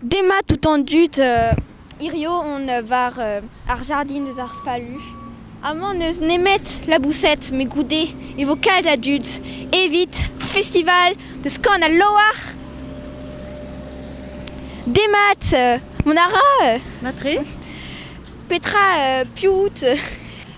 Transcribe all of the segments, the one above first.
Demat out an dud hirio on war ar jardin eus ar palu. Amañ n'eus nemet laboused met goude e vo kalz a dud evit festival deus Kan al Loar. Demat, mont a ra? Matre. Petra piv out?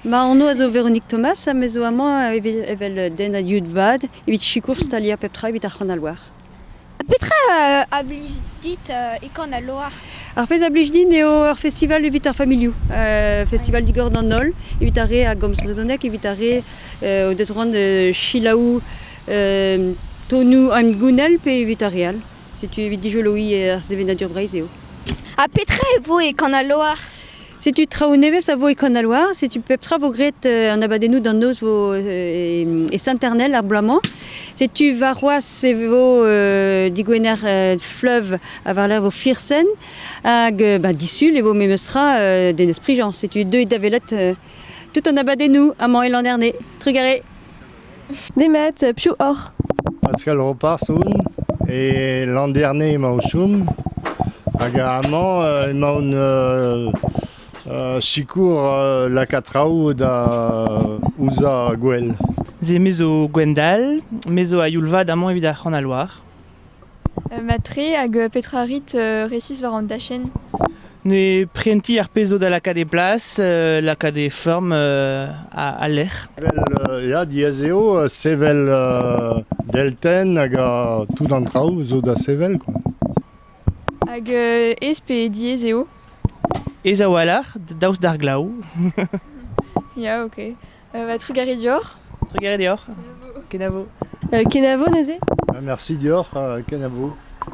Ma anv a zo Véronique Thomas ha me zo amañ evel den a dud vat evit sikour staliañ pep tra evit ar C'han al Loar. Petra a blij dit e Kan al Loar? Ar pezh a blij din eo ur festival evit ar familhoù. festival digor d'an holl, evit ar re a gomz brezhoneg, evit ar re o deus c'hoant da selaou tonioù hengounel pe evit ar re all. Setu evit dijoloiñ ar sevenadur Breizh eo. Ha petra e vo e Kan al Loar? Setu traoù nevez a vo e Kanaloa. Setu pep tra vo graet euh, an abadennoù d'an noz vo, euh, e Saint-Ernel ar bloaz-mañ. Setu warc'hoazh e vo euh, digwener euh, fleuve ha war vo Firsen. Hag euh, bah, disul e vo memes tra euh, d'Enez Prigent. Setu deuet da welet euh, tout an abadennoù amañ e Landerne. Trugarez Nemet piv oc'h? Paskal Roparz on e Landerne emañ o chom hag amañ emaon sikour lakaat traoù da uzañ gwell. Se me zo Gwendal, me zo a-youl vat amañ evit ar C'hranal-War. Mat-tre, hag petra a rit resis war an dachenn? Ne prentiñ ar pezh zo da lakaat e plas, lakaat e feurm al lec'h. Ya, diaes eo sevel deltenn hag tout an traoù zo da sevel, quoi. Hag aes pe diaes eo? Aes a-walc'h, daoust d'ar glav. Ya, ok. Euh, bah, Trugari Dior. Trugari Dior. Kenavo. Euh, Kenavo, Neuze. Merci Dior, euh, Kenavo.